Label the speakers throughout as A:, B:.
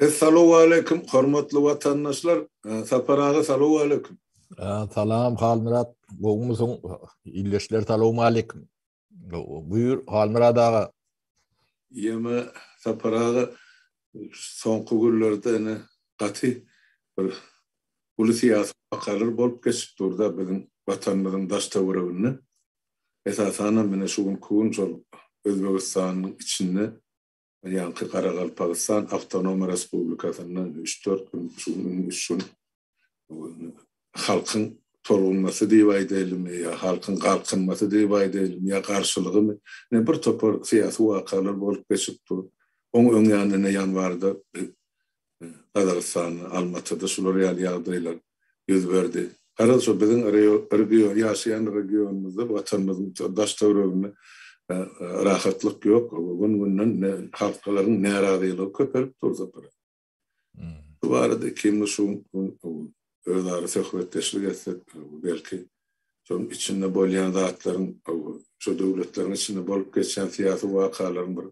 A: Essalowaleýkim, hormatly watandaşlar! Sapar aga, salowaleýkim! Salam,
B: Halmyrat! Gowumysyň? Ildeşler, salowmaleýkim! Buýur, Halmyrat aga! Ýeme,
A: Sapar aga, soňky günlerde ene gaty bir uly syýasy wakalar bolup geçip dur-da biziň Watanymyzyň daş-töwereginde. Esasanam menä şu günki gün şol Özbegistanyň içinde ýaňky Garagalpagystan Awtonom Respublikasynda üç-dört gün, şu gün üç gün halkyň tolgunmasy diýip aýdaýlymy ýa halkyň galkynmasy diýip aýdaýlymy ýa garşylygymy, ine bir topar syýasy wakalar bolup geçip dur. Oň öň ýanynda ine ýanwarda Gazagystanda, Almatyda şular ýaly ýagdaýlar ýüz berdi. Garaz, şu biziň region, ýaşaýan regionymyzda, Watanymyzyň daş-töwereginde rahatlyk ýok. Gün-günden halklaryň närazylygy köpelip dur, Sapar aga. Şu barada ikimiz şu gün özara söhbetdeşlik etsek, belki, şonuň içinde bolýan zatlaryň, şu döwletleriň içinde bolup geçýän syýasy wakalaryň bir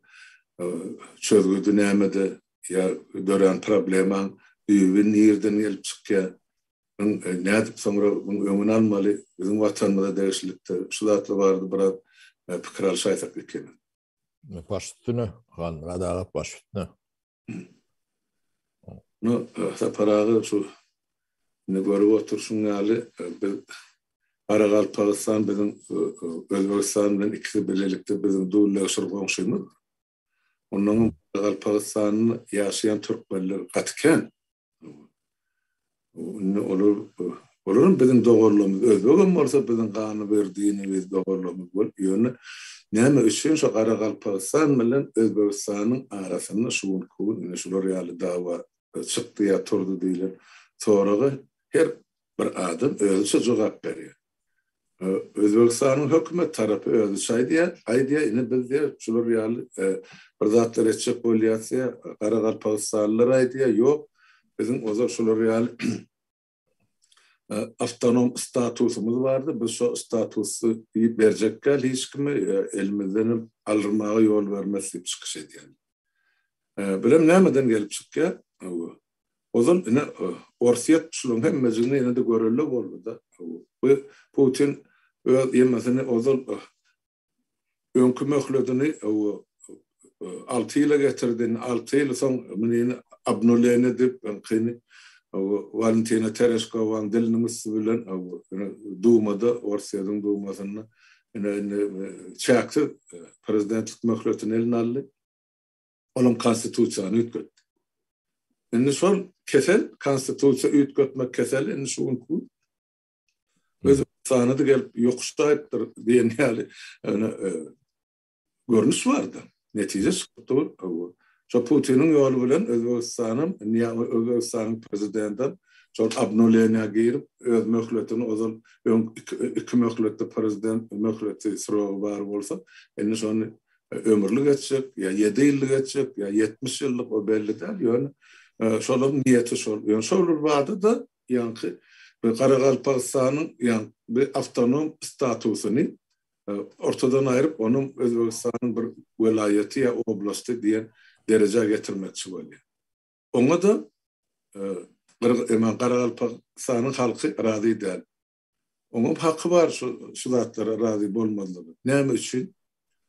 A: çözgüdi nämede, ýa dörän problemaň düýbi nireden gelip çykýar, muň nädip soňra muň öňüni almaly, biziň watanymyza degişlikde şu zatlar barada biraz pikir alyşaýsak ekeni. Baş
B: üstüne, Halmyrat aga, baş üstüne.
A: No, Sapar aga, şu indi görüp oturşyň ýaly, biz Garagalpagystan biziň Özbegistan bilen ikisi bilelikde biziň dulleşir goňşymyz. Ondan öň Galpagystanda ýaşaýan türkmenler gaty kän. Indi olar, olaram biziň doganlarymyz, özbegem bolsa biziň gany bir dinimiz, doganlarymyz bolup ýöne näme üçin şu Garagalpagystan bilen Özbegistanyň arasynda şu günki gün ine şular ýaly dawa çykdy ýa turdy diýlen soraga her bir adam özüçe jogap berýär. Özbegistanyň hökümet tarapy özi şaý diýýär, aý diýýär, ine biz diýýär, şular ýaly bir zatlar etjek bolýas diýýär, garagalpagystanlylar-aý diýýär, ýok, biziň ozal şular ýaly awtonom statusymyz bardy, biz şo statusy berjek däl hiç kime, elimizdenem aldyrmaga ýol bermez diýip çykyş edýärler. Bilem nämeden gelip çykýar? Ozal ine Orsýet şulaň hemmejigini ýene-de görelle boldy-da. Bu Putin öz ýemesini ozal öňki möhledini alty ýyla getirdi, indi alty ýyl soň munyny obnuleniýe edip, öňkini Walentina Tereşkowanyň diliniň üsti bilen Dumada, Orsýetiň Dumasynda ine indi çäksiz prezidentlik möhletini eline aldy. Olam konstitusiýany üýtgetdi. Indi şol kesel, konstitusiýa üýtgetmek keseli indi şu günki Özbekistana da gelip ýokuşdaýypdyr diýen ýaly ýöne e, görnüş bardy. Netije çykypdy bu. Şo Putiniň ýoly bilen Özbegistanyň, indi Özbegistanyň prezidenti şol obnuleniýa girip, öz möhletini ozal öň iki möhletde prezident möhleti srogy bar bolsa, indi şony Ömürlik etjek, ýa ýedi ýyllyk etjek, ýa ýetmiş ýyllyk, o belli däl, ýöne şolaryň niýeti şol. Ýöne şol bir bada-da ýaňky bir Garagalpagystanyň ýa bir awtonom statusyny ortadan aýryp, onuň Özbegistanyň bir welaýaty ýa oblasty diýen derejä getirmekçi bolýar. Oňa-da Garagalpagystanyň halky razy däl. Oňam haky bar şu şu zatlara razy bolmazlygyň. Näme üçin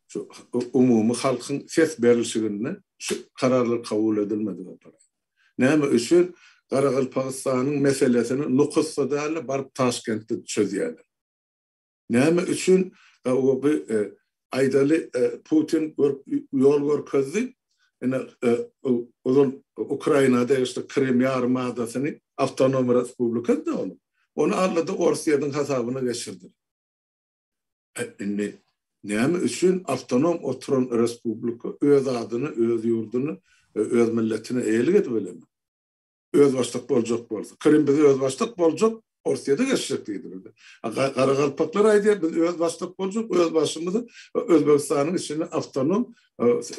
A: şu umumy halkyň ses berilşiginde şu kararlar kabul edilmedi baparat? Näme üçin Garagalpagystanyň meselesini Nukusda däl-de baryp Taşkentde çözýärler? Näme üçin bu Aýdaly, Putin ýol görkezdi, ine, ozal Ukraina degişli Krym ýarym adasyny awtonom respublikady-da ol. Ony aldy-da Orsýetiň hasabyna geçirdi. A indi näme üçin awtonom oturan respublika öz adyny, öz ýurduny, öz milletine eýelik edip bilenok? özbaşdak boljak bolsa. Krym bize özbaşdak boljak, Orsýede geçjek diýdi bize. Garagalpaklar aýdýar, biz özbaşdak boljak, öz başymyzy Özbegistanyň içinde awtonom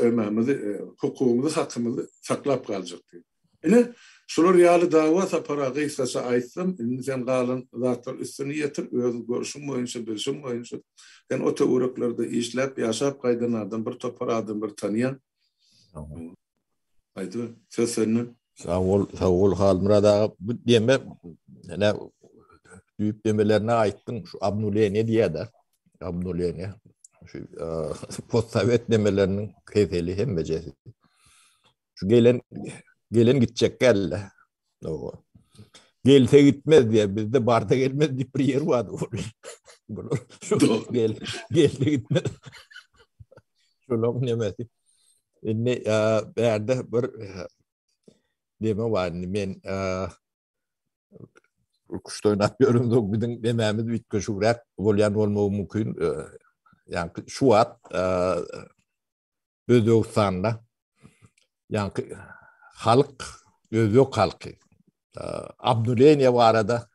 A: ememizi, hukugymyzy, hakymyzy saklap galjak diýdi. Ine, şular ýaly dawa sapara gysgaça aýtsam, indi sen galan zatlar üstüni ýetir, özüň görşüň boýunça, bilşiň boýunça. Sen o töwereklerde işläp, ýaşap gaýdan adam, bir topar adamlary tanýaň. Aýdyber. Söz sende. Sag
B: bol, sag bol Halmyrat aga. Bu deme ene düýp demelerini aýtdyň. Şu obnuleniýe diýýär-de. Obnuleniýe. Şu postsowet demeleriniň keseli hemmejesi. Şu gelen gelen gitjek gelle. Owa. Gelse gitmez diye bizde barda gelmez diýip bir ýer bardy. Bular gel gelse gitmez. Şolam nemesi. Indi bärde bir deme bar indi men kuş oynap görüm zog bizim dememiz bitke şu rap bolyan olmagy mümkün. Yani şu at Özbegistanda ýaňky halk, özbek halky obnuleniýe barada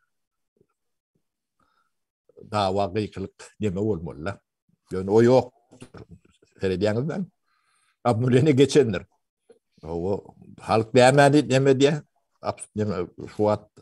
B: dawa gykylyk deme bolmaly-da. Ýöne o ýok. Seredýäňizmi? Obnuleniýe geçendir. O halk nämäni neme diýýär? Şu wagt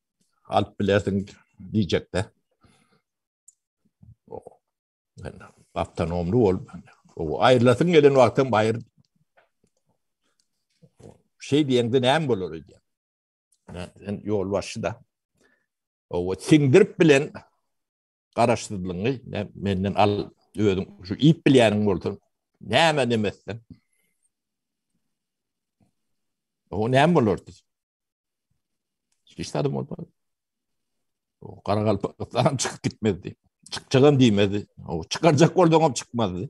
B: alyp bilersiň diýjekde. Awtonomly bolup, o aýrylasyň gelen wagtyň baýyr şey diýende näme bolar öýde? Sen ýol başy da. O siňdirip bilen garaşsyzlygyňy menden al, özüň şu iýip bilýäniň bolsa, näme demesden. O näme bolardy? Hiç zat bolmaz. O Garagalpakystan çykyp gitmezdi. Çykjagam diýmezdi. O çykarjak bolsaňam çykmazdy.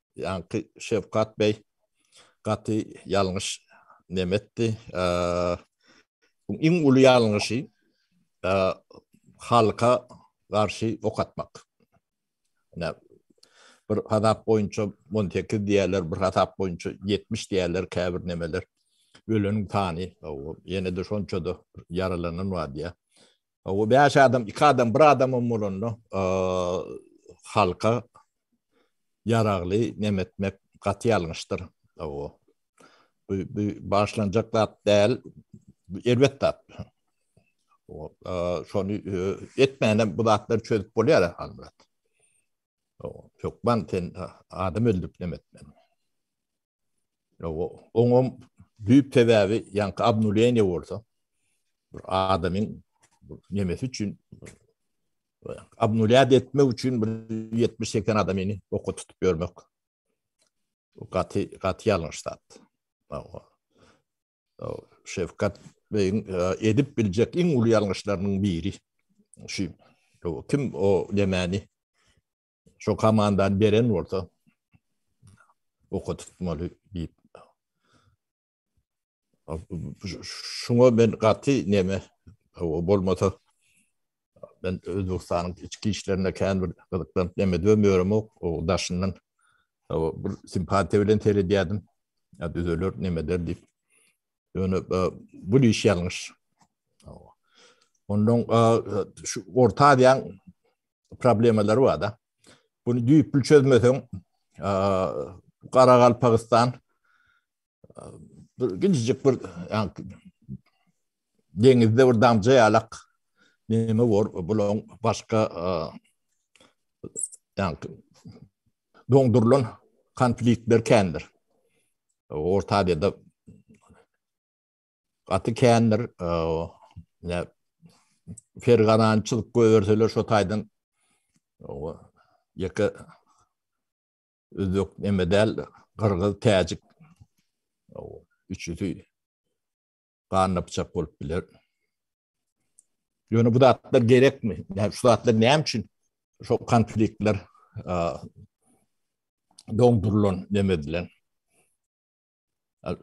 B: Ýaňky Şewkat beý gaty ýalňyş neme etdi. Bu iň uly ýalňyşy halka garşy ok atmak. Ine bir hasap boýunça 18 diýerler, bir hasap boýunça 70 diýerler käbir nemeler. Öleniň sany ýene-de şonça-da ýaralanan bar diýýär. O bäş adam, iki adam, bir adamam bolanda halka ýaragly nem etmek gaty ýalňyşdyr. O bu başlanjak zat däl, erbet zat. O şony etmänem bu zatlar çözüp bolýar Halmyrat. O hökman sen adam öldürip nem etmeli. Oňam düýp sebäbi ýaňky obnuleniýe bolsa bir adamyň nemesi üçin obnulýat etmek üçin bir 70-80 adamyny oka tutup ýörmek. Gaty gaty ýalňyş zat. Şefkat beýiň edip biljek iň uly ýalňyşlarynyň biri. Şu kim o nemäni Şu komandany beren bolsa okatmaly diýip. Şuňa men gaty neme bolmasa ben Özbekistanyň içki işlerine kän bir gyzyklanyp neme dömüyorum o, o daşyndan o, bir simpatiya bilen seredýärdim. Ya düzeler neme der diýip. Ýöne e, bu iş ýalňyş. Ondan e, şu Orta Aziýanyň problemalary bar da. Bunu düýpli çözmeseň, Garagalpagystan bir gijijik bir yani deňizde bir damja yalak neme var bulan başka yani dondurulan konfliktler kendir. Orta Aziýada Gaty kändir. Ne ferganançylyk göýerseler şo taýdan ýeke özbek neme däl, gyrgyz, täjik üçüsi ganna pyçak bolup biler. Ýöne bu zatlar gerekmi? Näme şu zatlar näme üçin şo konfliktler doňdurylan neme bilen?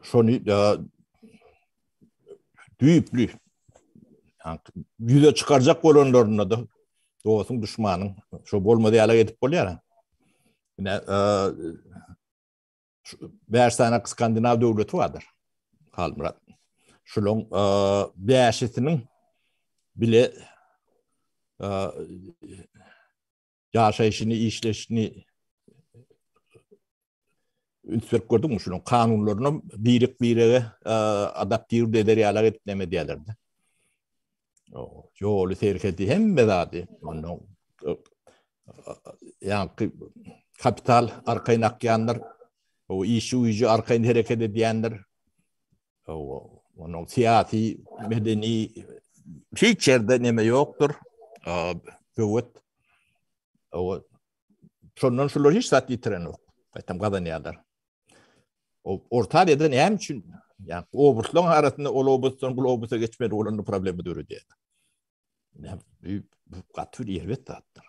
B: Şony da düýpli ýüze çykarjak bolanlarynda da dostuň düşmanyň şo bolmady ýala edip bolýar. Ine e, bäş sany skandinaw döwleti bardyr. Halmyrat. Şularyň e, bäşisiniň bile e, ýaşaýşyny, işleşini ünsüp gördüm şunuň kanunlaryny birek birege e, adaptiw eder ýalar edip näme diýerlerde. Ýoly serhedi hemme zady ondan e, ýaňky kapital arkaýyn akýanlar, o işi uýujy arkaýyn hereket edýänler, Onuň syýasy, medeni hiç ýerde näme ýokdur. Döwet. Owa. Şondan şular hiç zat ýitiren ýok. Gaýtam gazanýarlar. O orta ýerde näme üçin? Ýa obuslaryň arasynda ol obusdan bu obusa geçmeli bolanda problema döredýär. Näme bu gaty bir erbet zatdyr.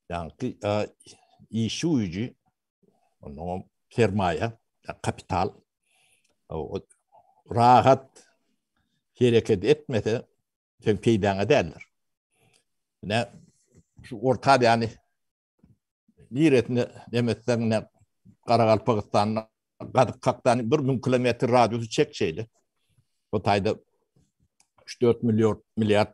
B: Ýa-da işi güýji Onda sermaýa, kapital rahat hereket etmese, sen peýdaňa däldir. Ne şu orta ýany niresine demesden ne Garagalpagystanda gadyk kakdan bir mün kilometr radiusy çek şeyle. Bu tayda 3-4 milyar milyar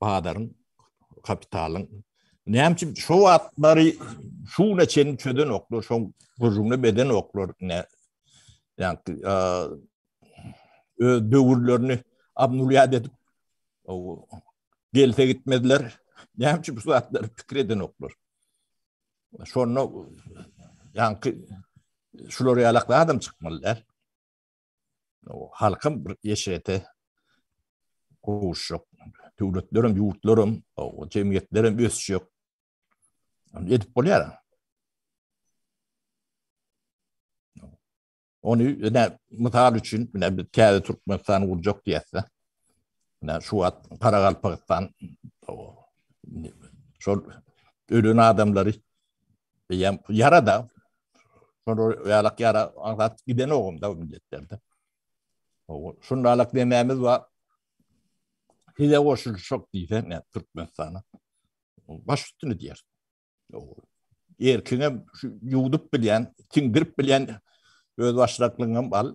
B: Bazaryň, kapitalyň. Näme üçin şu wagtlary şu güne çenli çöden oklar, şu gürrüňini beden oklar, ne, yani, ö, dövürlerini abnulyad edip, o, gelse gitmediler. Näme üçin bu zatlar pikir eden oklar? Şonda, yani, şular ýalakda adam çykmalylar. halkam bir eşrete gowuşjak. Döwletler hem, ýurtlar hem, jemgyýetler hem ösjek. Edip bolýar. Ony ýa mysal üçin, ýa bir täze Türkmenistan gurjak diýse, ýa şu wagt Karagalpakystan şol ölen adamlary Diýem, ýara da. Şonda ýalak ýara aňsat giden ogum da milletlerde. Şunda alak demämiz bar. Size goşulşak diýsen, ýa Türkmenistana. Baş üstüni diýer. Erkiňe ýuwdup bilýän, tiňdirip bilýän öz başlaklygyňam al.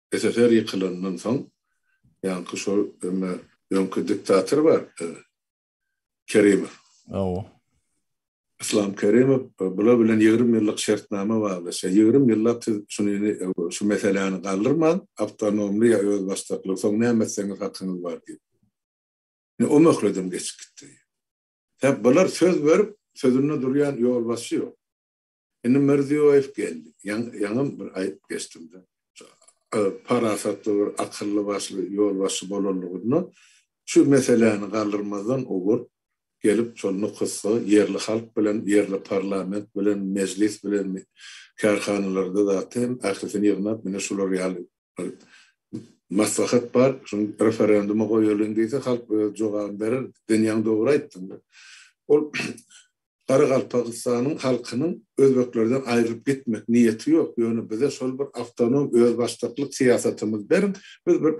A: SSR ýykylandan soň ýaňky şol öňe öňki diktator bar Kerimow. Hawa. Islam Kerimow bular bilen ýigrimi ýyllyk şertnama baglaşýar. Ýigrimi ýyllap siz şuny şu meseläni galdyrman, awtonomly ýa özbaşdakly soň näme etseňiz hakyňyz bar diýip. Indi o möhledem geçip gitdi. Sebäp bular söz berip, sözünde durýan ýolbaşçy ýok. Indi Mirziýoýew geldi. Ýaňam bir aýdyp geçdim-de. Parasatly bir akylly başly ýolbaşçy bolanlygyndan şu meseläni galdyrmazdan ogur gelip şol nokatda ýerli halk bilen, ýerli parlament bilen, mejlis bilen, kärhanalarda zat hem ählisini ýygnap ine şular ýaly bir maslahat bar, şuny referenduma goýalyň diýse halk öz jogabyny berer. Sen ýaňy dogry aýtdyň. Ol Garagalpagystanyň halkynyň özbeklerden aýrylyp gitmek niýeti ýok, ýöne bize şol bir awtonom özbaşdaklyk syýasatymyzy beriň, biz bir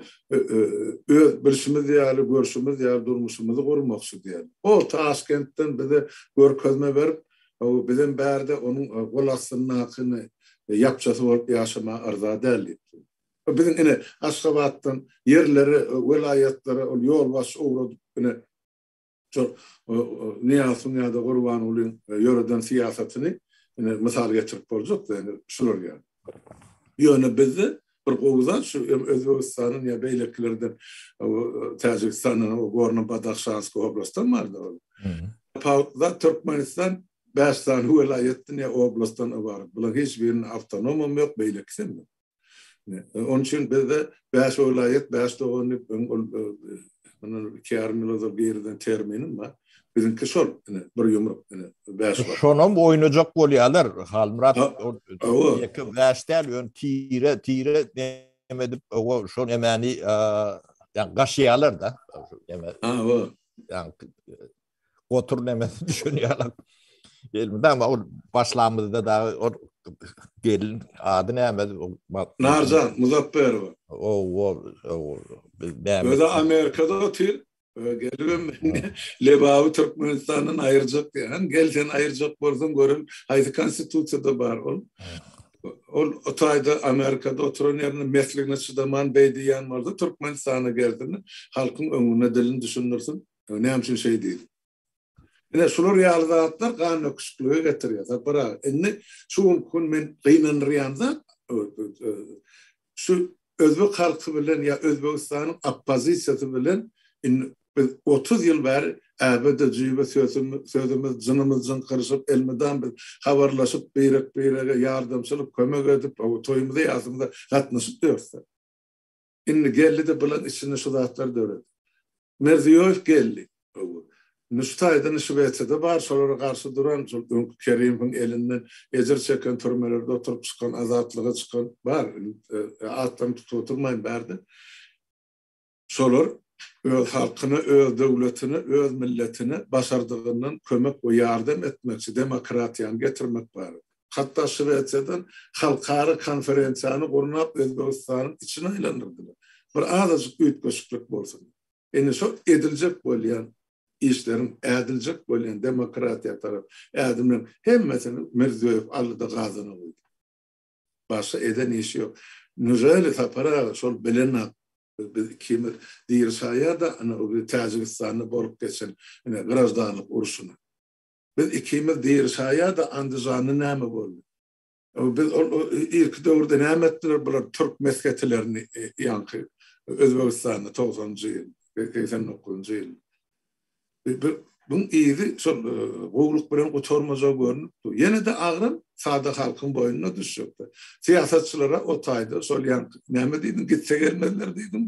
A: öz bilşimiz ýaly, görşümiz ýaly durmuşymyzy gurmakçy diýýärler. O Taşkentden bize görkezme berip, bizem bärde onuň gol astyndakyny ýapjasy bolup ýaşamaga yrza däl diýipdir. Biziň ine Aşgabatdan ýerlere, welaýatlara ol ýolbaşçy ugradyp ine, Şol Nyýazowyň ýa-da Gurbangulyň ýöreden syýasatyny ine mysal getirip boljak-da indi şular ýaly. Ýöne bizde bir gowy zat şu hem Özbegistanyň ýa beýlekilerden Täjigistandan o Gorno Badahşanski oblastdan bardy ol. Tapawutly Türkmenistan bäş sany welaýatdan ýa oblastdan ybarat. Bularyň hiç biriniň awtonomam ýok, beýlekisem ýok. Onun üçin bizde 5 welaýat, 5 dogan diýip ol bundan 2 ýarym ýyl ozal birinden terminim bar. Biziňki şol, ine, bir ýumruk, ine, 5 bar. Şonam oýnajak
B: bolýarlar. Halmyrat, ýeke 5 däl, ýön tire, tire näme edip, owa, şol nämäni, ýa gaşýarlar-da. Ýa, owa. Ýa, Gotur nemesi düşen ýalak. Elmydam o başlamyzda da o gelin ady näme? Narjan
A: Muzafferowa. O o o biz näme? Özi Amerikada otyr. Gelibem Lebawy Türkmenistandan aýyrjak diýen. Gel sen aýyrjak bolsaň görelim. Haýsy konstitusiýada bar ol? Ol o taýda Amerikada oturan ýerinde mesligine çydaman beý diýen bolsa Türkmenistana gelsin. Halkyň öňünde dilini düşündirsin. Ýa näme üçin şeý diýdi? Ine, şular ýaly zatlar gan döküşiklige getirýär. Sapar aga, indi şu günki gün men gynandyrýan zat, şu özbek halky bilen ýa Özbegistanyň oppozisiýasy bilen indi biz otuz ýyl bäri äbe-de jüýbe sözümiz, jynymyz jyňkyryşyp, elmydam biz habarlaşyp, birek-birege ýardamçylyk, kömek edip, toýumyza-ýasymyza gatnaşyp ýörüs-de. Indi geldi-de bulan içinde şu zatlar döredi. Mirziýoýew geldi. Öwü. Nustaýdan Şwesiýada bar, şolara garşy duran, şol öňki Kerimowyň elinden ejir çeken, türmelerde oturyp çykan, azatlyga çykan bar. Atlaryny tutup oturmaýyn bärde. Şolar öz halkyna, öz döwletine, öz milletine başardygyndan kömek we ýardam etmekçi, demokratiýany getirmek barada. hatda Şwesiýadan halkara konferensiýany gurnap Özbegistanyň içini aýlandyrdylar. Bir azajyk üýtgeşiklik bolsun. Indi şol ediljek bolýan işleriň ädiljek bolýan demokratiýa tarap ädimleriň hemmesini Mirziýoýew aldyda gazana goýdy. Başga eden işi ýok. Nureli Sapar aga şol bilenok. Biz ikimiz diri saýýada ana o Täjigistanda bolup geçen ine graždanlyk urşuna. Biz ikimiz diri şaýa-da Andižanda näme boldy? Biz ol irki döwürde näme etdiler bular türk mesgetilerini ýaňky Özbegistanda togsanjy ýyl, segsen dokuzynjy ýyl. Buň yzy şol gowluk bilen gutarmajak görnüp dur. Ýene-de agram sada halkyň boýnuna düşjekdir. Syýasatçylara o taýda şol ýaňky näme diýdiň, gitse gelmezler diýdiň?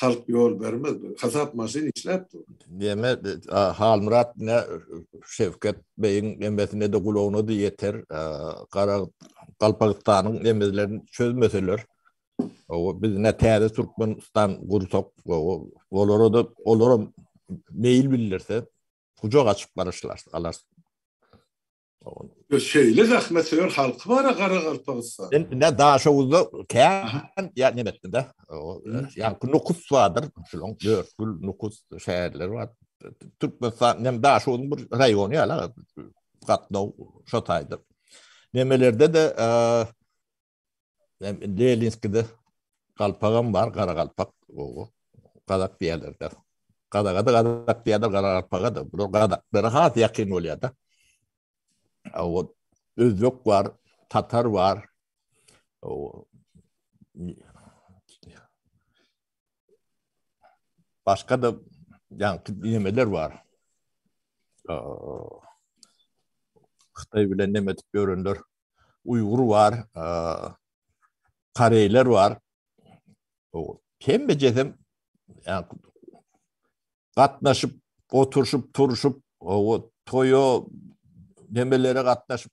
A: halk ýol bermez. Hasap maşyn işläp dur. Deme,
B: Halmyrat ne Şevket beýiň emmesine de gulagyna da ýeter. Gara Galpagystanyň emmelerini çözmeseler, o biz ne täze Türkmenistan gursak, o olara da olara meýil bildirse, gujak açyp garaşlar, alar. Ýa
A: şeýle zähmetsöýer halky bar-a Garagalpagystanyň. Men indi Daşoguzda
B: kän ýaňy etdim-de. Ýaňky Nukus bardyr, şonuň Dörtgül, Nukus şäherleri bar. Türkmenistanyň hem Daşoguzyň bir raýony ýaly-a gatnaw şo taýda. Nemelerde-de Lelinskide galpagam bar, garagalpak, gowy. Gazak diýerler-de. Gazaga-da gazak diýerler, garagalpaga-da. Bular gazaklara has ýakyn bolýar-da. Owo, özbek bar, tatar bar. Owo. Başga-da ýaňky nemeler bar. Hytaý bilen neme edip ýörenler. uýgur bar, koreýler bar. Hemmejesem gatnaşyp, oturşyp, turşup, toýa, nemelere gatnaşyp.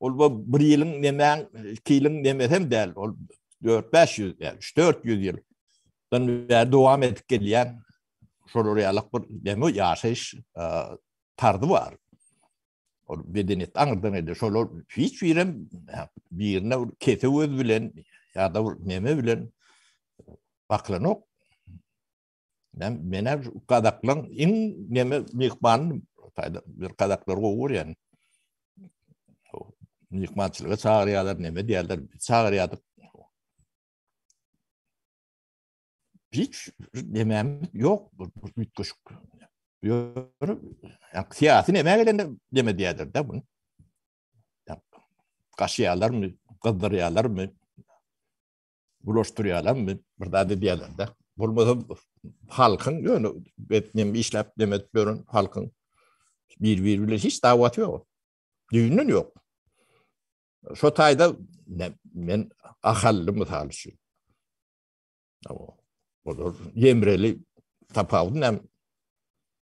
B: Ol bu bir ýylyň nemäň, iki ýylyň nemesem däl, ol 4-500 däl, 3-400 ýyl. Dan bäri dowam edip gelýän şolar ýaly bir demi ýaşaýyş tarzı bar. Ol bedeniýet aňyrdan gelýär. Şolar hiç birem birine bir kese öz bilen ýa-da bir neme bilen baklanok. Men mena kazaklan in neme mihman taýda bir kazaklar gowur ýan. Mihmançylyga çagyrýarlar, neme diýerler, çagyrýardyk. Hiç demem ýok bu üýtgeşik. Ýörüp, ýa syýasy neme gelende deme diýerler-de bunu. Ýa gaşýarlarmy, gyzdyrýarlarmy? bulaşdyrýarlar, bir zat edýärler-de. Bolmasa halkyň ýöne etnem işläp demet beren halkyň bir-biri bilen hiç dawaty ýok. Düýnden ýok. Şo taýda men ahally mysal üçin. Olar ýemreli tapawudy näme?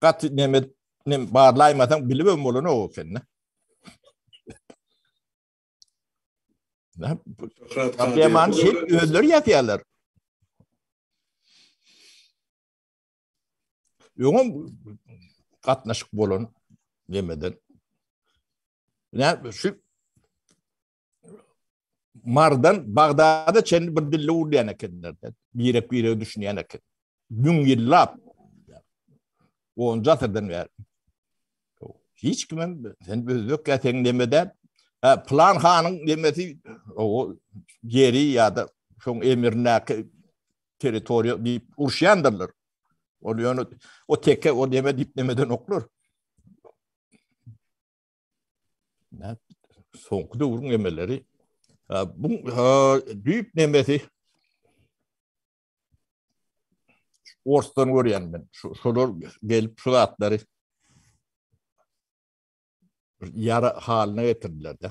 B: gaty neme nem barlaýmasaň bilibem bolanok ekeni. Problemany şey özleri ýazýarlar. Öňem gatnaşyk bolan nemeden. Ne şu Mardan Bagdada çenli bir dilli urýan ekenler. Birek birek düşünýän eken. Müň ýyllap. Onca asyrdan bäri. Hiç kim hem sen özbek ya sen nemede plan hanın nemesi o yeri ya da şoň emirindäki territoriýa diýip urşýandyrlar. Ol ýöne o teke o neme diýip nemeden oklar. Soňky döwrüň emeleri bu düýp nemesi Orsdan görýän men. Şolar gelip şu zatlary ýara halyna getirdiler-de.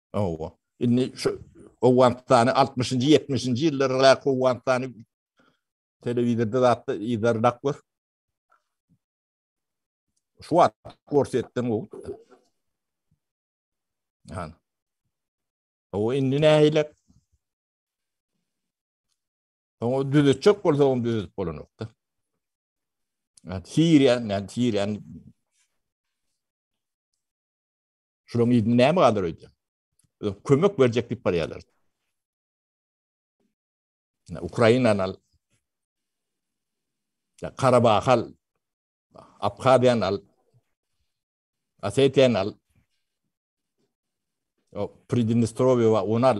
A: Hawa.
B: Indi şu Owganystany altmyşynjy, ýetmişinji ýyllardaky Owganystany telewizorda zatda yzarlap gör. Şu wagt görsetdiň bu. Han. O indi nähile? Oňa düzetjek bolsa oňa düzetip bolanokda. Siriýa, näme Siriýa? Şulan ýyny näme galar öýde? Kömek berjek diýip barýarlar. Ukrainany al. Karabahy al. Abhaziýany al. Osetiýany al. Pridnestrovýa we onu al.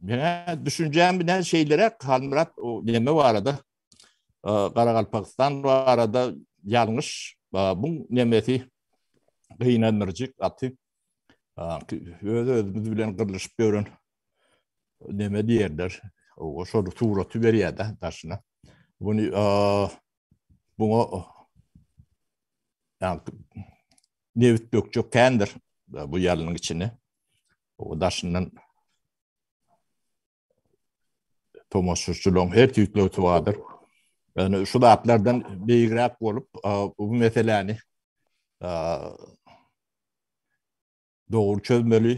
B: Menä düşünjäm bilen şeýleräk Halmyrat o neme barada Garagalpakistan barada ýalňyş bu nemesi gynandyryjy gaty öz özümiz bilen gyrlyşyp ýören neme diýerler o şol suraty berýär-de daşyna bunu buňa ýa nebit dökjek kändir bu ýalynyň içine O daşyndan tomaşaçylaryň her tüýtli tuwadyr. Yani şu zatlardan beýigräk bolup, bu meseläni dogry çözmeli.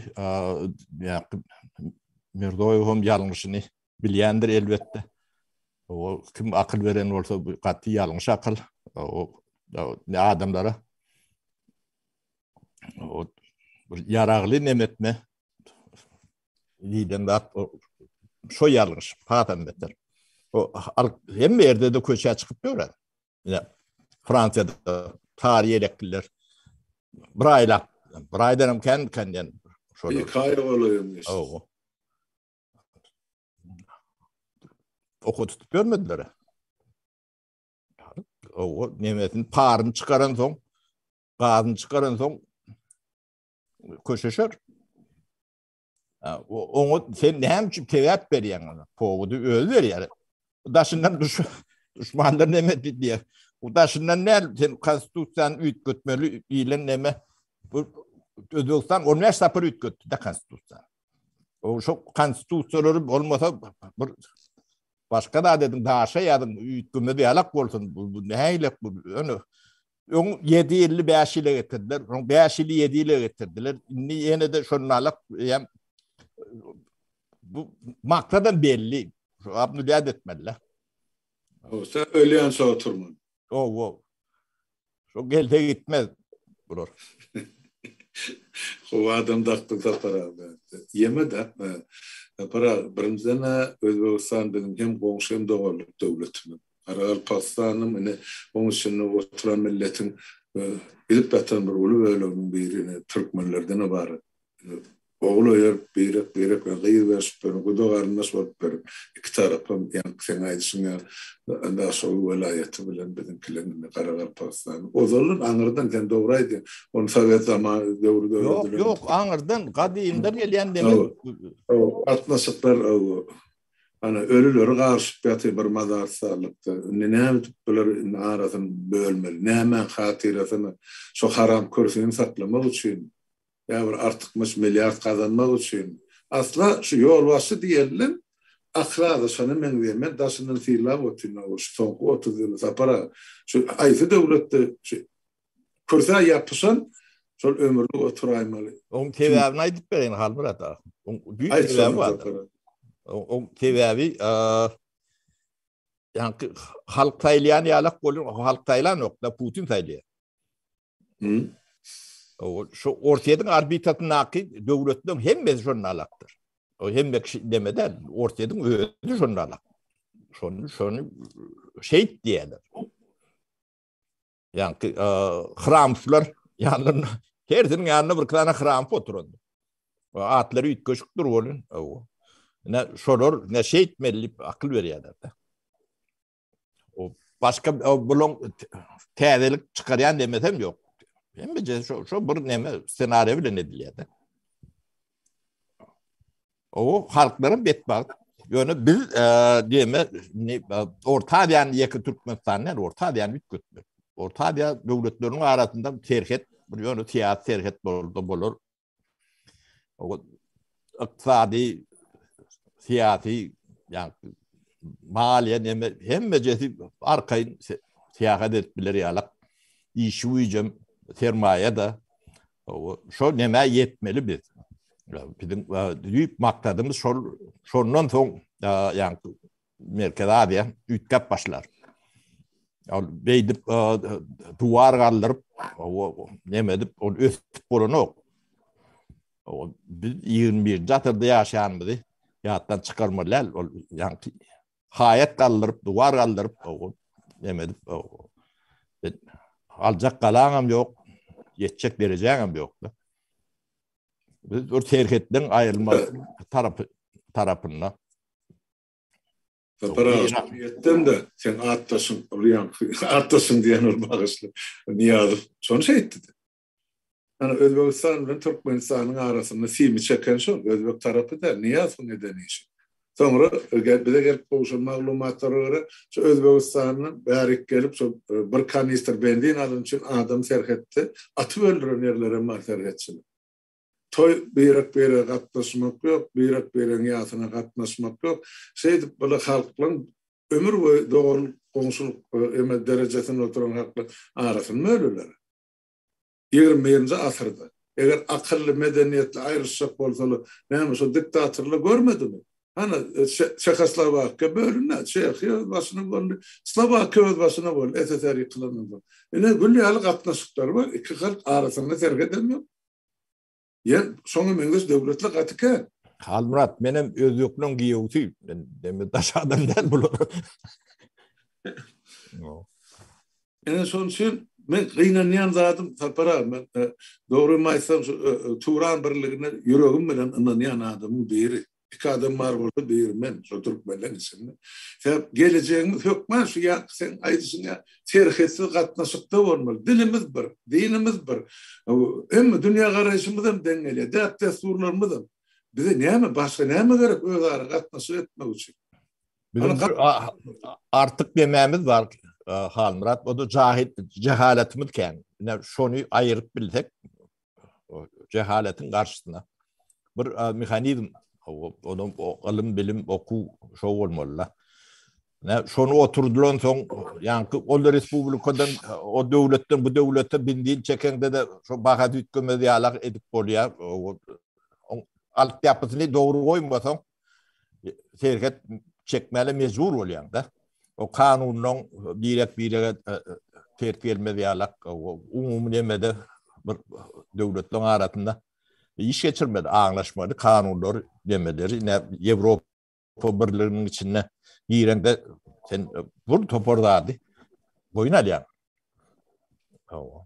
B: Mirzoýew hem ýalňyşyny bilýändir elbetde. O kim akyl beren bolsa gaty ýalňyş akyl. O adamlara o bir yaragly nemetme diýden zat o şo ýalgyş patam beter. O al hem ýerde de köçä çykyp ýörer. Ýa Fransiýada tary ýelekliler bir aýlap, bir aýdan hem kän kän diýen. Şo kaýa
A: golaýyn. Ow.
B: Oku tutup görmediler. Ow, nemetin paryn çykaran soň gazyny çykaran soň köşeşer. Oňa sen näme üçin tegäp berýäň ona? Powody özi berýär. Daşyndan düş düşmanlar näme diýýär? Bu daşyndan näl sen konstitusiýany üýtgetmeli diýlen näme? Bu Özbegistan 15 sapar üýtgetdi de konstitusiýa. O şu konstitusiýalary bolmasa bir başga da dedim daşa ýazyň üýtgemeli ýalak bolsun. Bu näýlek bu? Öňe Öň ýedi ýyly bäş ýyla getirdiler. Öň bäş ýyly ýedi ýyla getirdiler. Indi ýene de şondalyk ýa bu maksada belli. Abny däd etmeli. O,
A: sen ölýän şo oturman. O, o.
B: Şo gelse gitmez bular.
A: Ho adam dakdy sapara. Ýeme de. Sapara birinjiden Özbegistan biziň hem goňşy hem doganlyk döwletimiz. Garagalpakstanam ine, oň içinde oturan milletiň gidip ýatan bir uly böleginiň biri ine, türkmenlerden ybarat. Ogul öýerip, birek, birek bilen gyz berşip berip, guda-garyndaş bolup berip, iki tarapam, ýaňky seň aýdyşyň ýaly, Daşoguz welaýaty bilen biziňkiler indi Garagalpakstan. Ozaldan aňyrdan, sen dogry aýdýaň, ony sowet zamany döwri döredilen. Ýok, ýok, aňyrdan,
B: gadymdan gelýän demek. Hawa, hawa,
A: gatnaşyklar, hawa. Ana, ölüleri garşyp ýatyr bir mazarsarlykda. Indi näme edip bolar? Indi arasyny bölmeli. Nämäň hatyrasyna? Şo haram kürsini saklamak üçin? Ýa bir artykmaç milliard gazanmak üçin? Asla şu ýolbaşçy diýeniň akyly azaşana meňzeýär. Men daşyndan sylap otyryn, awa, şu soňky otuz ýyly, Sapar aga. Şu haýsy döwletde şu Kürsä ýapyşan şol ömürlik oturaýmaly. Oň sebäbini
B: aýdyp bereýin Halmyrat aga. Oň düýp sebäbi bar. Oň sebäbi ýa-da halk saýlaýan ýalak bolan, halk saýlanok, da Putin saýlaýar. Hı. O şu Orsýetiň arbitasyndaky döwletleriň hemmesi şonda alakdyr. O hemme kişi demeden Orsýetiň özi şonda alak. Şonu şonu şeýt diýerler. Ýaňky hramslar ýanynda hersiniň ýanynda bir tane hram oturdy. Atlary üýtgeşikdir bolun. Ne şolar ne şeýtmeli diýip akyl berýärler. O başga buluň täzelik çykarýan demesem ýok. Hemme şo şo bir neme ssenariýa bilen edilýär. O halklaryň betbagt. Ýöne biz e, diýme e, Orta Aziýanyň ýeke Türkmenistan näme Orta Aziýany üýtgetmek. Orta Aziýa döwletleriniň arasynda serhet bir ýöne syýasy serhet boldy bolar. O ykdysady syýasy ýagny maliýe näme hemme jesi arkaýyn syýahat edip biler ýalak. Işi güýjem sermaýa da Şo nämä ýetmeli biz? Biziň düýp maksadymyz şol, şondan soň, ýagny Merkezi Aziýa üýtgäp başlar. Ol beýdip duwar galdyryp, näme edip, ol ösüp bolanok. Biz 21-nji asyrda ýaşaýanymyzy ýatdan çykarmaly däl. Ol ýagny haýat galdyryp, duwar galdyryp, neme edip, aljak galaňam ýok, ýetjek derejäňem ýok-da. Biz bir serhetden aýrylma tarapy tarapynda.
A: Sapar etdim de sen atdaşyň, Ryan, atdaşyň diýen bir bagyşly Niýazow şony şeýtdi. Ana Özbegistan bilen Türkmenistanyň arasynda simi çeken şol, özbek tarapy däl, Niýazowyň eden işi. Soňra bize gelip gowşan maglumatlara görä, şu Özbegistandan bärik gelip şol bir kanistr benzin alyn üçin adam serhetde atyp öldüren ýerler hem bar serhetçiler. Toý birek-birege gatnaşmak ýok, birek-biregiň ýasyna gatnaşmak ýok. Şeýdip bile halklaryň ömür boýy doganlyk, goňşulyk derejesinde oturan halklaryň arasyny bölüler. Ýigrimi birinji asyrda, eger akylly, medeniýetli aýrylyşjak bolsalar, näme şo diktatorlar görmedimi? Hany, Çehoslowakiýa bölündi, Çehiýa öz başyna boldy, Slowakiýa öz başyna boldy, SSR ýykylandan soň. Ine, gül ýaly gatnaşyklary bar, iki halk arasynda serhet hem ýok. Ýer şoňa meňzeş döwletler gaty kän. Halmyrat, men
B: hem özbekleň giýewsi. Men demi daş adam däl bular.
A: Ene şonuň üçin men gynanýan zadym Sapar aga, men e, dogrymy aýtsam şu e, e, Turan birligine ýüregim bilen ynanýan adamyň biri. Iki adam bar bolsa biri men şo türkmenleň içinde. Sen gelejegiňiz hökman şu ýaňky sen aýdyşyň ýa serhetsiz gatnaşykda bolmaly. Dilimiz bir, dinimiz bir. Hemme dünýä garaýşymyz hem deň gelýär. Däp-dessurlarymyz hem. Bize näme başga näme gerek özara gatnaşyk etmek üçin?
B: Artyk dememiz bar. Halmyrat, o da jahil, cehaletimiz kän. Şony ayırıp bilsek, cehaletiň garşysyna bir mehanizm onuň ylym bilim okuw şo bolmaly da ne şonu oturdylan soň ýaňky ol respublikadan o döwletden bu döwlete bindin çekeňde de şo baha düýtgemez ýalak edip bolýar alyp ýapysyny dogry goýmasaň serhet çekmäle mecbur bolýaň da. O kanundan birek birege e, e, ters gelmez ýalak umumy nemede bir döwletleň arasynda iş geçirmedi, aňlaşmady kanunlar demeleri. Ine Ýewropa birliginiň içinde girende sen e, bir topar zady boýun alýaň. Hawa.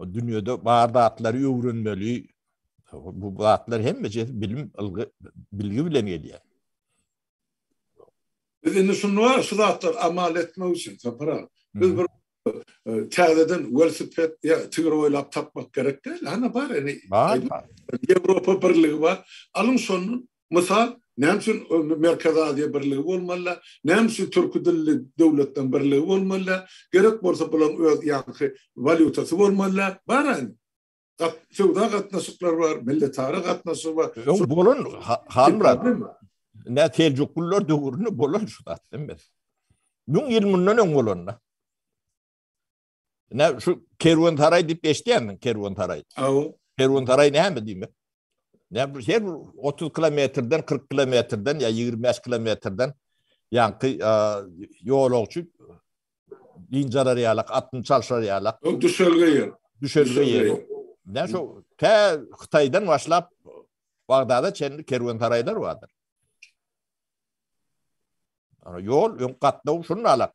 B: Dünýede bar zatlary öwrenmeli. Bu zatlar hemmejesi bilim, ylgy, bilgi bilen gelýär. Biz indi şunda şu zatlar
A: amal etmek üçin, Sapar aga, biz bir täzeden welosiped ýa tigir oýlap tapmak gerek däl. Hana bar, ene, Ýewropa Birligi bar. Alyň şondan Mysal, näme üçin Merkezi Aziýa birligi bolmaly, näme üçin türki dilli döwletleriň birligi bolmaly, gerek bolsa bularyň öz ýaňky walýutasy bolmaly, bar indi. Söwda gatnaşyklary bar, milletara gatnaşygy bar. Öň bolan
B: Halmyrat, nä Seljuklylar döwründe bolan şu zat, diýmek. Müň ýyl mundan öň bolan-da. Ne şu kerwentaray dip geçdiýämiň kerwentaray? Aw. Kerwentaray näme diýmek? Ne bu her 30 kilometrden 40 kilometrden ýa 25 kilometrden ýaňky ýolagçy injarar ýalak, atyn çalşar ýalak. O düşelge ýer.
A: Düşelge ýer.
B: Ne şu tä Hytaýdan başlap Bagdada çenli kerwentaraýlar bardyr. Ana ýol öň gatnaw şuny alak.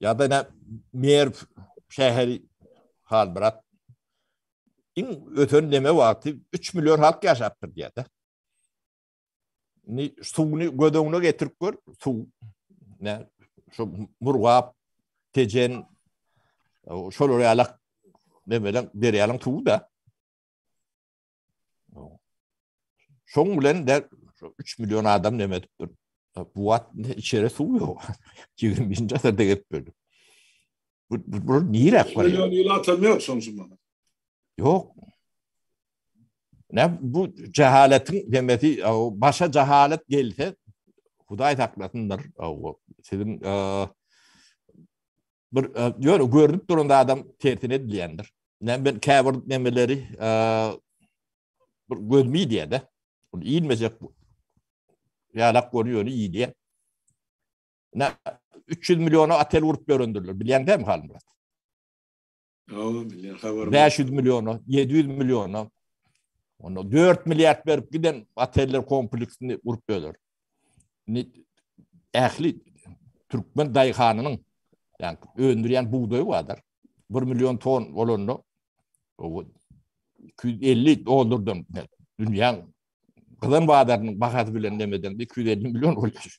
B: Ya da ne Merv şäheri hal bırak. İn öten deme vakti 3 milyon halk yaşaptır diye de. Ni suwunu göz öňüne getirip gör. Suw ne şu murgap tejen şolar ýalak demelen derýanyň suwy da. Şoň bilen de 3 million adam näme edipdir? Bu wagt içeri suw ýok. 21-nji asyrda gelip bildi. Bu bu nire akbar? Million ýyl atam ýok şoň üçin
A: bana. Ýok.
B: Ne bu cehaletin demesi başa cehalet gelse Hudaý saklasyndyr. Sizin bir ýöne görünip duran adam tersine edilýändir. Näme ben käbir nemeleri bir gözmi diýende, ony iýmejek ýalak görýäni iýýä. Nä 300 milliona otel urup ýörendirler. Bilýäňdämi Halmyrat?
A: Bäş ýüz milliona,
B: ýedi ýüz milliona. Onda dört milliard berip giden oteller kompleksini gurup böler. Indi ähli türkmen daýhanynyň ýani öndürýän bugdaýy bardyr. Bir million ton bolanda o iki ýüz elli dollardan dünýäň gyzan bazarynyň bahasy bilen demeden iki ýüz elli million bolýar.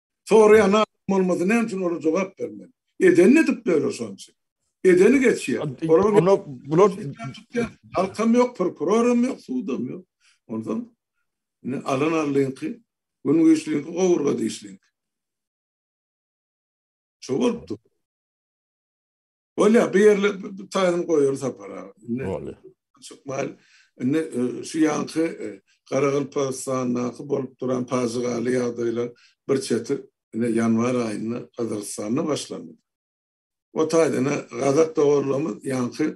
A: Soraýan adam bolmasa näme üçin olar jogap bermeli? Edenini edip döre şoň üçin. Edeni geçýär. Onda bular halkam ýok, prokuroram ýok, sudam ýok. Ondan ine alan aldyňky, gün güýçliňki gowurga dişliňki. Şu bolupdy. Bolýar, bu ýerle taýyny goýarys sapara. Bolýar.
B: Çykmaýar.
A: Indi e, şu ýanky e, Garagalpagystandaky bolup duran pajygaly ýagdaýlar bir çetir indi ýanwar aýynda Gazagystanda başlandy. O taýdan Gazak doganlarymyz ýanky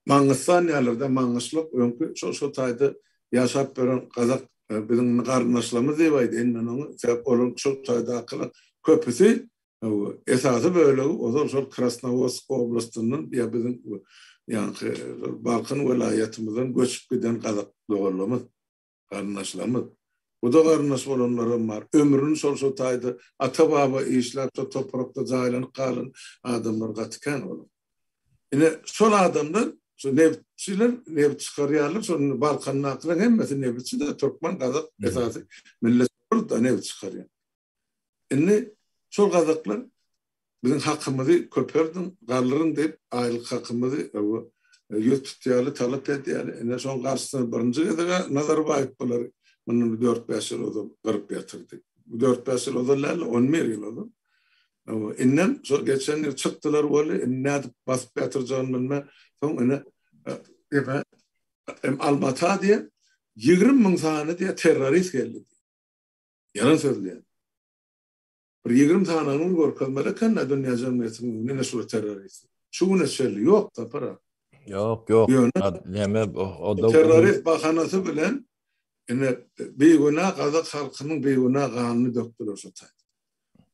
A: Mangystan dälirde Mangyşlyk öňki şo şo taýda ýaşap ýören gazak biziň garyndaşlarymyz diýip aýdaýyn men oňa sebäp olaryň şo taýdakylar köpüsi esasy bölegi ozal şol Krasnowodsk oblastyndan ýa biziň ýaňky Balkan welaýatymyzdan göçüp giden gazak doganlarymyz. Garyndaşlarymyz, bu-da garyndaş bolanlaram bar. Ömrüni şol-şo taýda ata-baba işläp, şo toprakda jaýlanyp galan adamlar gaty kän bolar. Ine, şol adamlar, şo nebitçiler nebit çykarýarlar, şol indi Balkandakylaryň hemmesi nebitçi-de, türkmen, gazak esasy milletler nebit çykarýar. Indi şol gazaklar biziň hakymyzy köperdiň, galdyryň diýip, aýlyk hakymyzy ýüz tutýarly, talap edýärli. Ine, şoň garşysyna birinji gezeg-ä Nazarbaýew bulary mundan bir dört-bäş ýyl ozal gyryp ýatyrdy. Bu dört-bäş ýyl ozal däl-de, on bir ýyl ozal. Indem şol geçen ýyl çykdylar weli, indi nädip basyp ýatyrjagyny bilmän, soň ine, diýme, Alma-Ata diýen ýigrimi müň sany diýýär terrorist geldi diýýär. Ýalan sözleýän. Bir ýigrimi sany aňyny görkezmeli eken-dä dünýä jemgyýetiniň öňünde ine şular terrorist. Şu güne çenli ýok Sapar aga. Ýok, ýok.
B: Ýöne näme o-da terrorist bahanasy
A: bilen ine bigünä gazak halkynyň bigünä ganyny dökdüler şo taýda.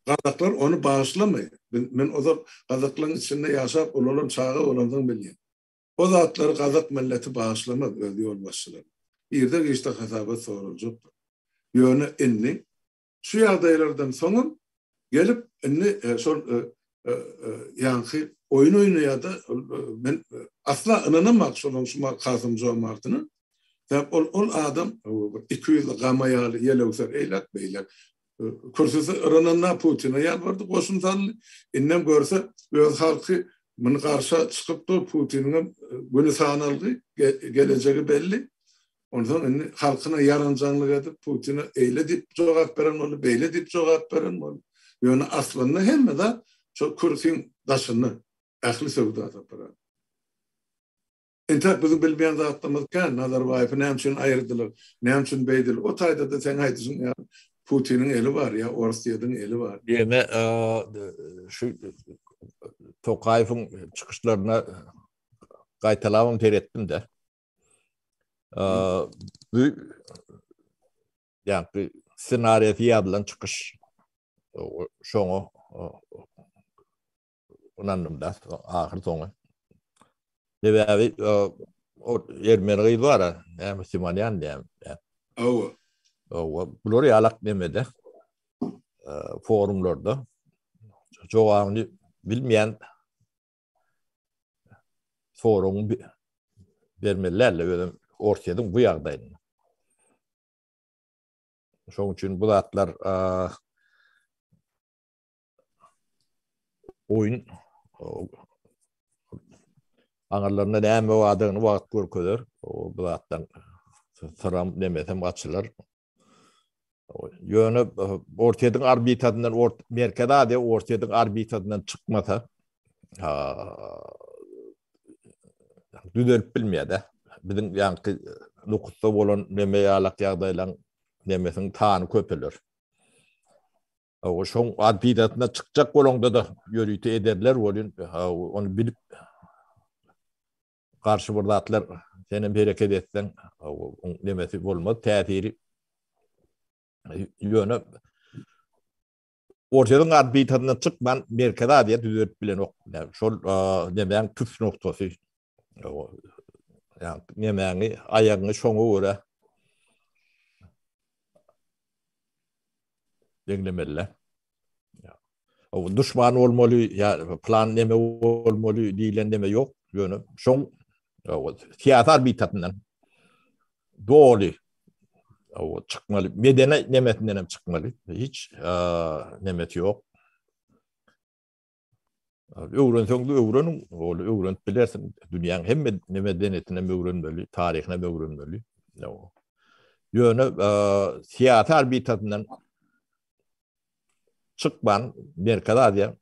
A: Gazaklar ony bagyşlamaýar. Men ozal gazaklaryň içinde ýaşap ulalan çaga bolandygymy bilýän. O zatlary gazak milleti bagyşlamaz öz ýolbaşçylaryna. Irde-giçde hasabat soraljakdyr. Ýöne indi şu ýagdaýlardan soňam gelip indi şol ýaňky oýun oýnaýar-da, men asla ynanamak şolaň şu Kasym Jomartyna. Sebäp ol adam iki ýüzli gama ýaly ýelewser eýläk-beýläk Kürsüsi yrananda Putine ýalbardy, goşun saldy. Indem görse, öz halky muny garşa çykyp dur, Putiniňem güni sanalgy, gelejegi belli. Onsoň indi halkyna ýaranjaňlyk edip, Putine eýle diýip jogap beren boldy, beýle diýip jogap beren boldy. Ýöne aslynda hemme zat şol kürsüň daşynda, ähli söwda-sapar. Entäk biziň bilmeýän zatlarymyz kän, Nazarbaýew näme üçin aýyrdylar, näme üçin beýdil, o taýda-da seň aýdyşyň ýaly Putiniň eli bar ýa Orsýediň eli bar. Ýöne
B: şu Tokaýewiň çykyşlaryna gaýtalabam seretdim-de. Bu ýa-da ssenariýasy ýazylan çykyş şoňa Ynandym da, ahyr soňy. Sebäbi o ermeni gyz bar, näme Müslümanyan diýen. Owa. Owa, bular ýalak nemede. Forumlarda jogabyny bilmeýän soragyň bermeliler özüm Orsyýediň bu ýagdaýyny. Şoň üçin bu zatlar oýun aňyrlarynda näme bardygyny wagt görkezer. O bu zatdan syram demesem açylar. Ýöne Orseýiň orbitasyndan Merkezi Aziýa Orseýiň orbitasyndan çykmasa düzelip bilmeýär-de. Biziň ýaňky nukutda bolan neme ýalak ýagdaýlaryň nemesiniň sany köpeler. Hawa, şoň antidasyna çykjak bolaňda-da ýörite ederler welin, ony bilip garşy bir zatlar senem hereket etseň, oň nemesi bolmaz, täsiri. Ýöne Orsyýanyň antidasyna çykman Merkezi Aziýa düzelip bilenok. Şol nemäň tüs noktasy. Yani nemäňi, aýagyňy şoňa görä deňlemeli. O düşman bolmaly, ya plan neme bolmaly diýlen neme ýok. Ýöne şoň syýasy arbitrasyndan doly o çykmaly, medeni nemesinden hem çykmaly. Hiç nemesi ýok. Öwrenseň de öwren, ol öwrenip bilersiň. Dünýäň hemme medenetine öwrenmeli, taryhyna öwrenmeli. Ýöne syýasy arbitasyndan çykman Merkez Aziýa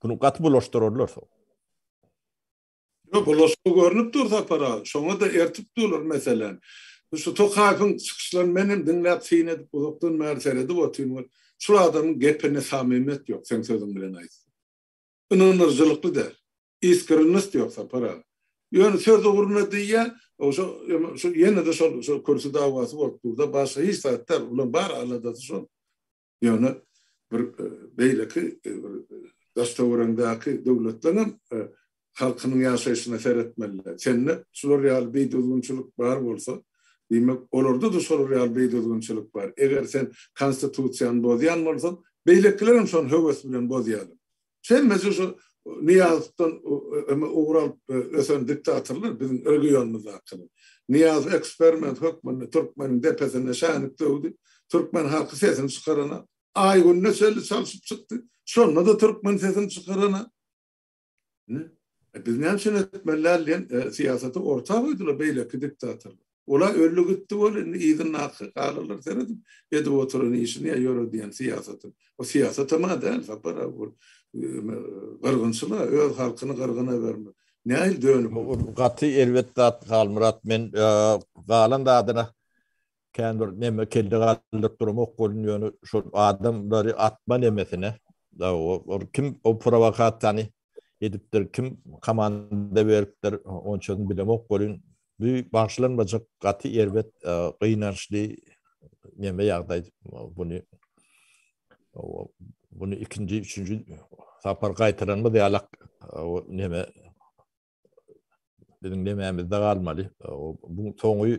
B: bunu gaty bulaşdyrarlar.
A: Ýok, bulaşygy görnüp dur Sapar aga. Şoňa-da ertip durlar meseläni. Bu şu Tokaýewiň çykyşlaryny men hem diňläp syn edip uzakdan bäri seredip otyryn we şul adamyň gepinde samimýet ýok, seň sözüň bilen aýtsam. Ynandyryjylykly däl. Iskrennist ýok Sapar aga. Ýöne söz ugruna diýýä, ogşa ýene-de şol şu kürsi dawasy bolup dur-da, başga hiç zat däl. Bulaň bar aladasy şol. Ýöne bir beýleki daş töweregiňdäki döwletler hem halkynyň ýaşaýşyna seretmeliler. Sende şular ýaly beýdüzgünçilik bar bolsa, diýmek, olarda-da şolar ýaly beýdüzgünçilik bar. Eger sen konstitusiýany bozýan bolsaň, beýlekiler hem şony höwes bilen bozýarlar. Hemmesi şu Nyýazowdan ugur alyp ösen diktatorlar biziň regionymyzdakylar. Nyýazow eksperiment hökmünde türkmeniň depesine şänik döwdi. Türkmen halky sesini çykaranok. Aýgünde şeýle çalşyp çykdy. Şonda-da türkmen sesini çykaranok. Ine, biz näme üçin etmeli däl diýen syýasaty orta goýdular beýleki diktatorlar. Ola öldi gitdi bol indi yzyndaky galarlar seredip edip oturan işini ya ýöredýän syýasatyny. O syýasatam a däl Sapar aga ol gyrgynçyl a öz halkyny gyrgyn ebermek. Nähili dönüp ol. Gaty erbet
B: zat Halmyrat men galan zadyna kän bir neme kelle galdyryp duramok bolun ýöne şol adamlary atma nemesine o kim o prowakasiýany edipdir, kim komanda beripdir, onçasyny bilemok welin, bu bagyşlanmajak gaty erbet, gynançly neme ýagdaý buny. Buny ikinji, üçünji sapar gaýtalanmaz ýalak neme biziň demämizde galmaly. Bu soňy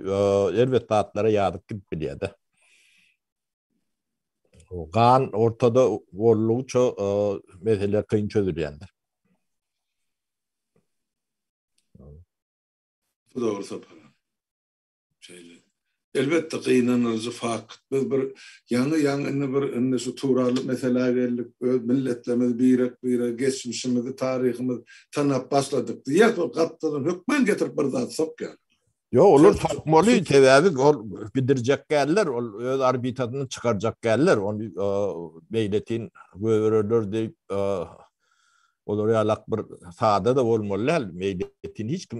B: erbet zatlara ýazyp gidip bilýär-de. Gan ortada bollugyça meseleler kyn çözülýändir.
A: Bu dogry Sapar. Şeýle. Elbetde gynanyjy fakt. Biz bir ýaňy ýaňy indi bir indi şu Tuwraly meselä geldik, öz milletlerimizi birek birege geçmişimizi taryhymyz tanap başladyk diýýäs ol gapdaldan hökman getirip bir zat sokýar. Ýok olar
B: sokmaly sebäbi ol bidirjek däller ol öz arbitasyny çykarjak däller ol beýletin göwererler diýip olar ýalak bir sada da bolmaly däl meýletin hiç kim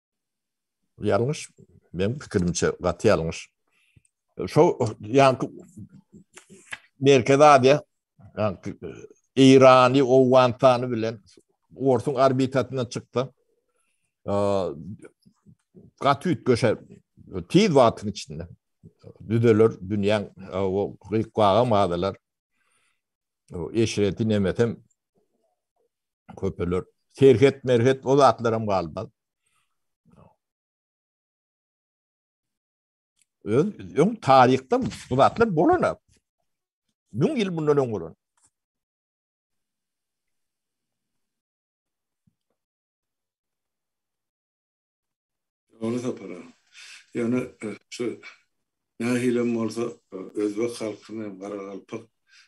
B: Ýalňyş, meniň pikirimçe gaty ýalňyş. Şo ýanky Merkezi Aziýa, ýanky Eýrany, Owganystany bilen Orsuň orbitasyndan çyksa, gaty üýtgeşer. Tiz wagtyň içinde düzeler dünýäň o gyk-waga mazalar. Eşreti nemesem köpeler. Serhet, merhet o zatlar hem galmaz. Öz, ön tarihte bu zatlar bolan hep. Mün yıl bundan ön bolan.
A: Ony tapara. Ýöne şu nähilem bolsa özbek halkyna hem garagalpak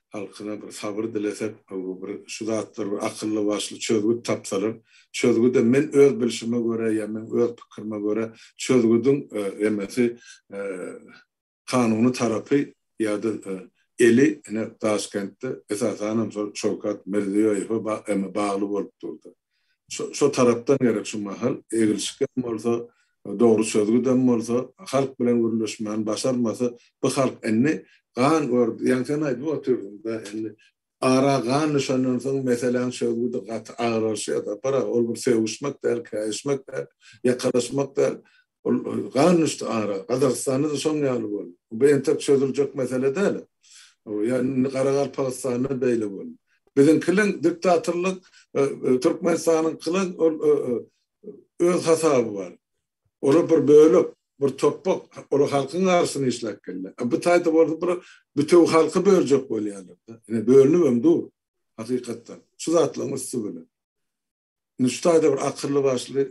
A: halkyna bir sabyr dilesek bu bir şu zatlar bir akylly başly çözgüt tapsalar çözgüde men öz bilşime görä ýa men öz pikirime görä çözgüdiň emesi kanuny tarapy ýa-da eli ine Daşkentde esasanam şol Şawkat Mirziýoýewe bagly bolup durdy. Şo tarapdan gerek şu mahal egilşikgem bolsa, dogry çözgüdem bolsa halk bilen gürleşmäni başarmasa bu halk indi gan gördi. Ýaňsam aýdyp otyrdyň-da indi Ara gan düşenden soň meseläň çözgüdi gaty agyrlaşýar-da. Gara, ol bir sögüşmek däl, käýişmek däl, ýakalaşmak däl. Ol gan düşdi ara. Gazagystanda-da şoň ýaly boldy. Bu entek çözüljek mesele däl. Ýa indi Garagalpagystanda beýle boldy. Biziňkiliň diktatorlyk, Türkmenistanyňkylyň ol öz hasaby bar. Olar bir bölek, bir topbak, olar halkyň arasynda işläp gelýär. A bu taýda bolsa bir bütewi halky böljek bolýarlar-da. Ine, bölünibem dur, hakykatdan. Şu zatlaryň üsti bilen. Indi şu taýda bir akylly-başly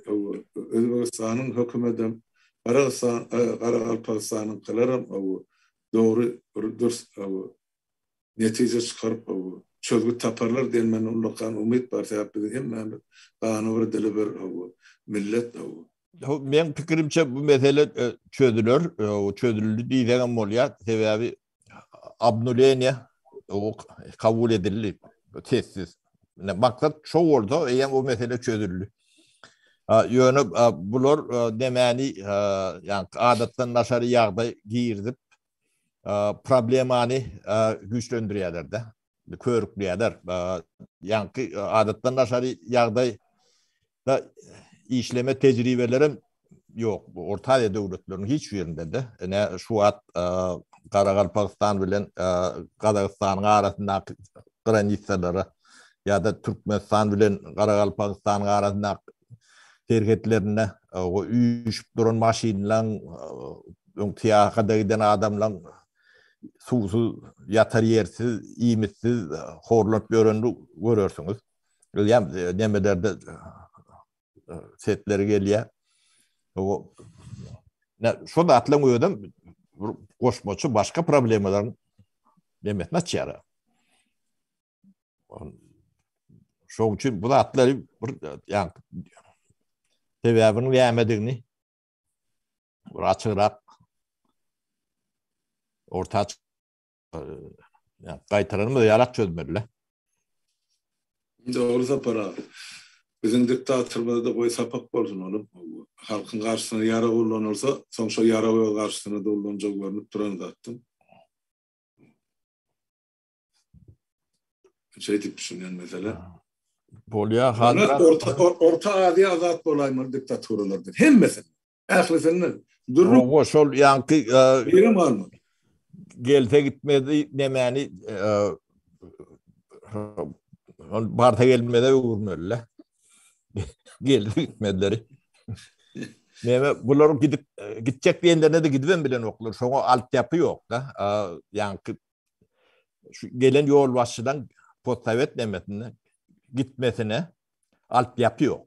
A: Özbegistanyň hökümedem, Garagystan, Garagalpagystanyňkylaram dogry, bir dürs netije çykaryp çözgüt taparlar diýen mende ullakan umyt bar sebäp biziň hemmämiz gany bir dili bir millet.
B: Meň pikirimçe bu mesele çözüler, çözüldi diýsegem bolýar sebäbi abnuleniýa kabul edildi sessiz. Maksat şo bolsa eýýäm o mesele çözüldi. Ýöne bular nämäni ýa adatdan daşary ýagdaý girizip problemany güýçlendirýärler-de, körükleýärler. Ýaňky adatdan daşary ýagdaý da işleme tejribeleri hem ýok. Orta Aziýa döwletleriniň hiç birinde-de, ine şu wagt Garagalpagystan bilen Gazagystanyň arasyndaky granisalara ýa-da Türkmenistan bilen Garagalpagystanyň arasyndaky serhetlerinde o üýşüp duran maşynlaryň Öň syýahada giden adamlaň suwsuz, ýatar ýersiz, iýmitsiz horlanyp ýörenini görersiňiz. Bilýän nemelerde sesleri gelýär. Şo zatlaň özem bir goşmaça başga problemalaryň nemesini açýar. Şoň üçin bu zatlary bir ýa sebäbiniň nämedigini bir açyrak orta gaýtalanmaz ýarak çözmeli.
A: Dogry Sapar aga. Biziň diktatorymyzda goý sapak bolsun onuň. Halkyň garşysyna ýarag ullanylsa, soň şol ýaragy öz garşysyna-da ullanjagy görnüp duran zatdyr. Şeýdip düşünýän meselem. Bolýar,
B: Hazrat.
A: Orta Aziýa azat bolaýmaly diktaturalardan. Hemmesi. Ählisinden. Dürli. Oňa şol ýanky
B: Birim
A: barmy? Gelse
B: gitmedi nemäni barsa gelmede öwürmeli. Geldi gitmedileri. Neme bular gidip gitjek diýenlerine de gidip bilen oklar. Şoňa alt ýapy ýok da. Ýanky şu gelen ýol başydan postavet nemesinde gitmesine alt ýapy ýok.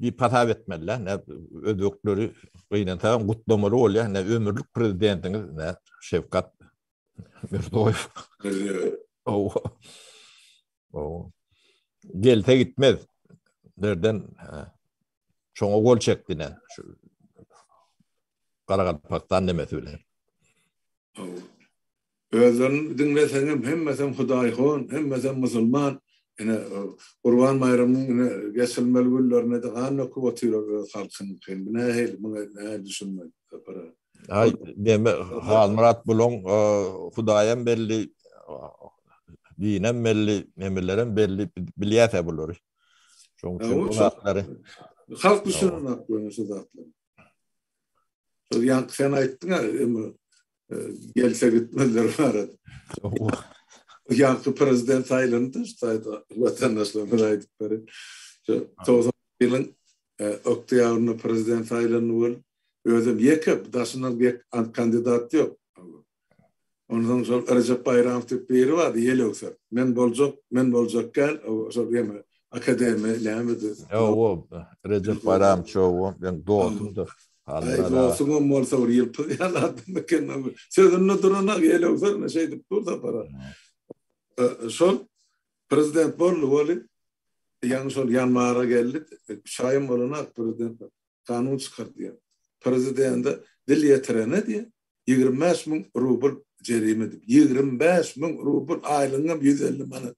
B: diýip hasap etmeli, ne özbekleri gynansaň gutlamaly bolýar, ne ömürlik prezidentiňiz, ne Şewkat Mirziýoýew. Gelse gitmez. Nerden şoňa gol çekdi ne şu Garagalpakystan nemesi bilen.
A: Özlerini diňleseňem hemmesem hudaýhon, hemmesem musulman. Ine, Gurban baýramynyň ine geçirilmeli günlerinde-de gan döküp otyrar öz halkynyňky. Bu nähili, muňa nähili düşünmek, Sapar aga? Aý,
B: deme, Halmyrat bulaň hudaýam belli, dinem belli, nemelerem belli, bilýäs-ä bulary. Şonuň üçin bu zatlary. Halk
A: düşünenok bolsa şu zatlary. Şol ýaňky sen aýtdyň-a, gelse gitmezler barada. Ýaňky prezident saýlandy, şaýda watandaşlarymyz aýdyplary. Şu 90 ýylyň oktýabrynda prezident saýlandy bol. Özüm ýeke daşyndan bir kandidat ýok. Ondan şol Rejep Baýramow diýip biri bardy, ýelewser. Men boljak, men boljak gel, şol ýene Akademi näme de? Ýo,
B: Rejep Baýramçow, meniň dostumdy. Aý, dostuňam
A: bolsa bir ýylpyz ýaly adam eken. Sözünde duranok, elewserine şeýdip dur Sapara. Şol prezident boldy weli, ýaňy şol ýanwara geldi, üç aýam bolanak prezident kanun çykar diýýär. Prezidende dil ýetirene diýýär, ýigrimi bäş müň rubl jerime diýip. Ýigrimi bäş müň rubl, aýlygyňam ýüz elli manat.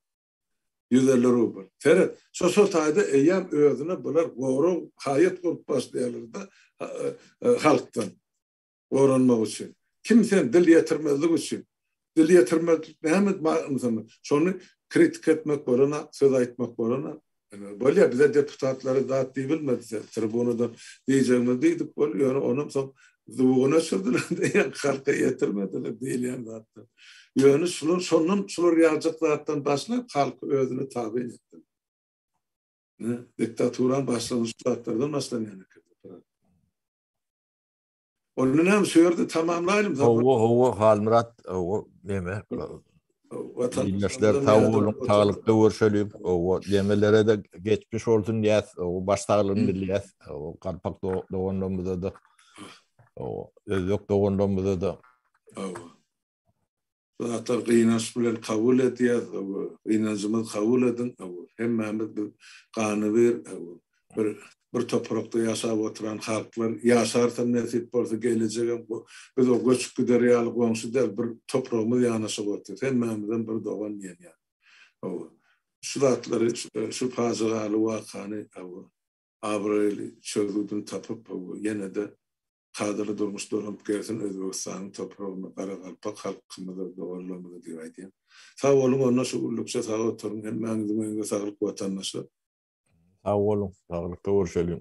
A: Ýüz elli rubl. Seret, şo şo taýda eýýäm özüne bular gorag, haýat bolup başlaýarlar-da halkdan goranmak üçin. Kim sen dil ýetirmezlik üçin? Dil ýetirmezlik näme ynsanlar? Şony kritika etmek bolanok, söz aýtmak bolanok. Bolýa bize deputatlara zat diýibilmedi tribunadan diýjegimiz diýdik boldy ýöne onam soň zubugyn öçürdiler diýýän halka ýetirmediler diýilýän zatlar ýöne şular şondan şular ýaljak zatdan başlap halk özüne tabyn etdi diktaturanyň başlanyşy şu zatlardan başlanýan ekeni. Onda näme şu ýerde tamamlaýlym. Hawa, hawa,
B: Halmyrat, hawa, näme? Ildeşler sag boluň, saglykda görşeliň. Hawa, nemelere-de geçmiş bolsun diýýäs. Hawa, baş saglygyny dileýäs. Hawa, galpak doganlarymyza-da. Hawa, özbek doganlarymyza-da. Hawa.
A: Zatlar gynanç bilen kabul edýäs, aw, gynanjymyz kabul ediň, aw, hemmämiz bir gany bir, aw, bir bir toprakda ýaşap oturan halklar, ýaşarsam nesip bolsa gelejegem bu, biz o göçüp gider ýaly goňşy däl, bir topragymyz ýanaşyk otyr, hemmämizem bir dogan diýen ýaly. Aw, şu zatlary, şu pajygaly wakany, aw, abraýly çözgüdini tapyp, aw, ýene-de Kadaly durmuş dolanyp gelsin Özbegistanyň topragyna Garagalpak halkymyza doganlarymyza diýip aýdýan. Sag boluň onda şu gullukça sag oturyň hemmäňiziň öýüňize
B: saglyk
A: watandaşlar. Sag
B: boluň
A: saglykda görüşeliň.